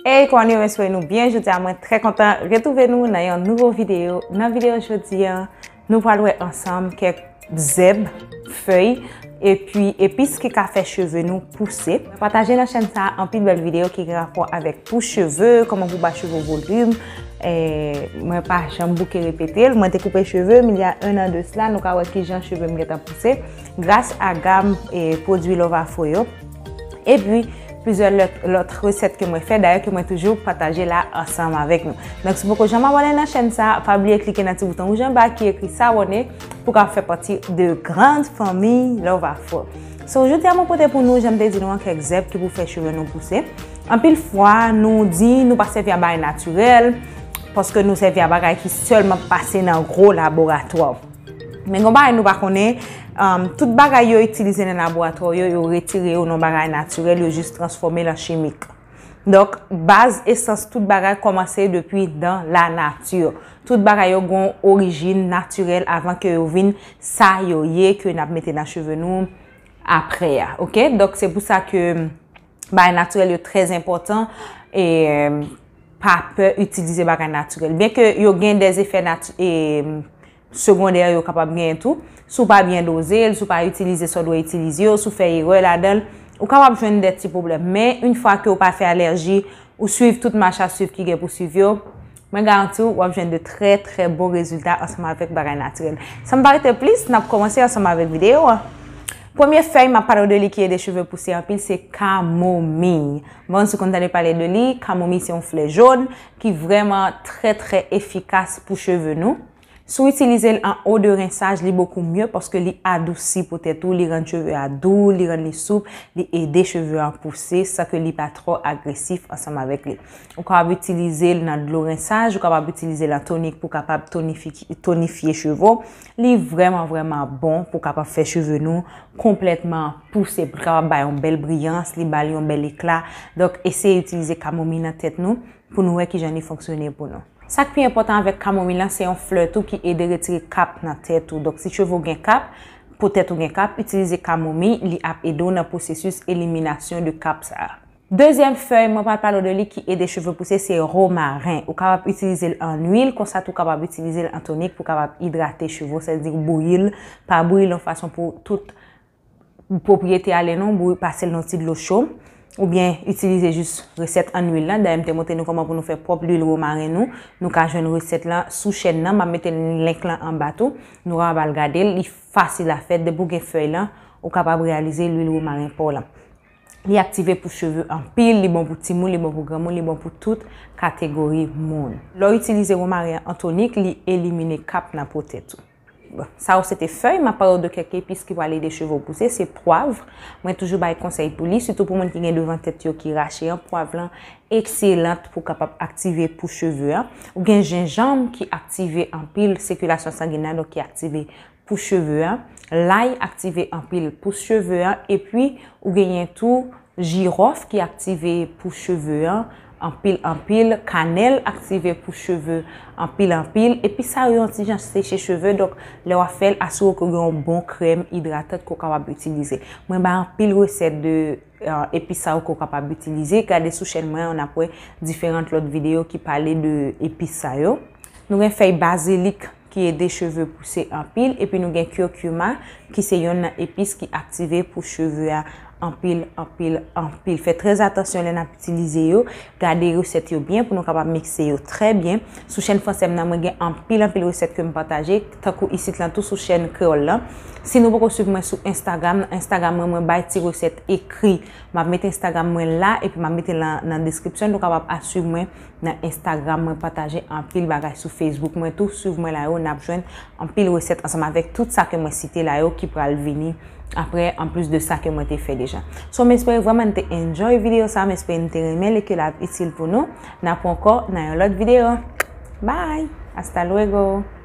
Hey Connie mwen swey nou byen jodia mwen trè kontan retrouve nou nan yon nouvo video nan video jodia nou pral wè ansanm kèk zèb, fèy epi epis ki ka fè cheve nou pouse pataje nan chèn sa anpil bèl video ki gen rapò avèk pou cheve kòman pou ba cheve volim mwen pa janm bouke repete l mwen te koupe cheve m il ya 1 an de sla nou ka wè kijan cheve m gentan pouse gras a gam pwodwi Lovafo yo. E pi, plizyè lòt resèt ke mwen fè, dayè ke mwen toujou pataje la ansanm avèk nou. Donk, si poko janm abòne nan chèn sa, pa bliye klike nan ti bouton wouj anba ki ekri s'abonner pou ka fè pati de grand fanmiy Love Afro. So, jodi a mwen pote pou nou, janm te di nou an, kèk zèb ki pou fè cheve nou pouse. Anpil fwa, nou di nou pa sèvi a bagay natirèl, paske nou sèvi a bagay ki sèlman pase nan gwo laboratwa. Men gon bagay nou pa konnen, tout bagay yo itilize nan laboratwa yo, yo retire yo nan bagay natirèl, yo jis transfòme l an chimik. Donk, baz esans tout bagay kòmanse depi dan lanati. Tout bagay yo gon orijin natirèl avan ke yo vin sa yo ye ke n ap mete nan cheve nou apre a. Ok? Donk, se pou sa ke bagay natirèl yo trè enpòtan e pa pè itilize bagay natirèl. Byen ke yo gen de zefè segondè yo kapab gen tou, sou pa byen doze, sou pa itilize sa w dwe itilize yo, sou fè erè ladan l, ou kapab jwenn de ti pwoblèm. Men, yon fwa ke ou pa fè alèji, ou swiv tout mach a swiv ki gen pou swiv yo, Mwen garanti w, w ap jwenn de trè trè bon rezilta ansanm avèk bagay natirèl. San pa rete plis, n ap kòmanse ansanm avèk videyo an. Premye fèy m ap pale w de li ki ede cheve pouse anpil se kamomiy. M pa konn si w konn tande pale de li, kamomiy se yon flè jòn ki vrèman trè trè efikas pou cheve nou. Si w itilize l an eau de rinçage li beaucoup mieux paske li adousi po tèt ou, li rann cheve a dou, li rann li soup, li ede cheve an pouse san ke li pa trò agresif ansanm avèk li. Ou kapab itilize l nan dlo rinçage, ou kapab itilize l an tonik pou kapab tonifye cheve w. Li vrèman vrèman bon pou kapab fè cheve nou konplètman pouse, pou l kapab bay yon bèl briyans, li ba l yon bèl ekla. Donk eseye itilize kamomi nan tèt nou. pou nou wè kijan li fonksyone pou nou. Sa k pi enpòtan avèk kamomil la, se yon flè tou ki ede retire kap nan tèt ou. Donk si cheve w gen kap, po tèt ou gen kap, itilize kamomi, li ap ede w nan pwosesis eliminasyon de kap sa a. Dezyèm fèy mwen pral pale w de li ki ede cheve pouse se romaren. Ou kapab itilize l an luil, konsa tou w kapab itilize l an tonik pou w kapab idrate cheve w, sa vle di bouyi l, pa bouyi l yon fason pou tout. pwopriyete ale non bouyi pasel nan ti dlo cho ou byen itilize jis resèt an lwil lan dayè m te montre nou koman pou nou fè pwòp lwil womaren nou nou ka jwenn resèt lan sou chèn nan map mete link lan anba tou nou kapab al gade l li fasil a fèt depi w gen fèy lan ou kapab reyalize lwil womaren pa w lan li aktive pou cheve anpil li bon pou timoun li bon pou granmoun li bon pou tout kategori moun lè w itilize womaren an tonik li elimine kap nan po tèt ou. Sa yo se te fèy, map pale w de kèk epis ki pral ede cheve w pouse, se pwav, mwen toujou bay konsèy pou li, sitou pou moun ki gen devan tèt yo ki rache an, pwav lan ekselant pou kapab aktive pou cheve an. Ou gen jenjanm ki aktive anpil sikilasyon sangin nan, donk ki aktive pou cheve an, lay aktive anpil pou cheve an, epi ou genyen tou jiròf ki aktive pou cheve an. Anpil anpil kanèl aktive pou cheve anpil anpil epi sa yo yon ti jan seche cheve donk lè wap fèl asire w ke w gen yon bon krèm idratant ke w kapab itilize mwen bay anpil resèt de epi sa yo ke w kapab itilize gade sou chèn mwen an nap wè diferant lòt videyo ki pale de epi sa yo nou gen fèy bazilik. ki ede cheve pouse anpil epi nou gen curcuma ki se yonn nan epis ki aktive pou cheve a anpil anpil anpil fè trè atansyon lè nap itilize yo gade resèt yo byen pou nou kapab mikse yo trè byen sou chèn fransè m nan mwen gen anpil anpil resèt kem pataje tankou isit lan tou sou chèn kreyòl lan si nou poko swiv mwen sou instagram nan instagram mwen mwen bay ti resèt ekri map met instagram mwen la epi map metel nan deskripsyon nou kapab a swiv mwen. Nan Instagram mwen pataje anpil bagay sou Facebook mwen tou swiv mwen la yo nap jwenn anpil resèt ansanm avèk tout sa ke mwen site la yo ki pral vini aprè an plis de sa ke mwen te fè deja so m espere vrèman n te enjoy video sa m espere n te renmenl e ke l ap itil pou nou n ap pran kò nan yon lòt video bye hasta luego.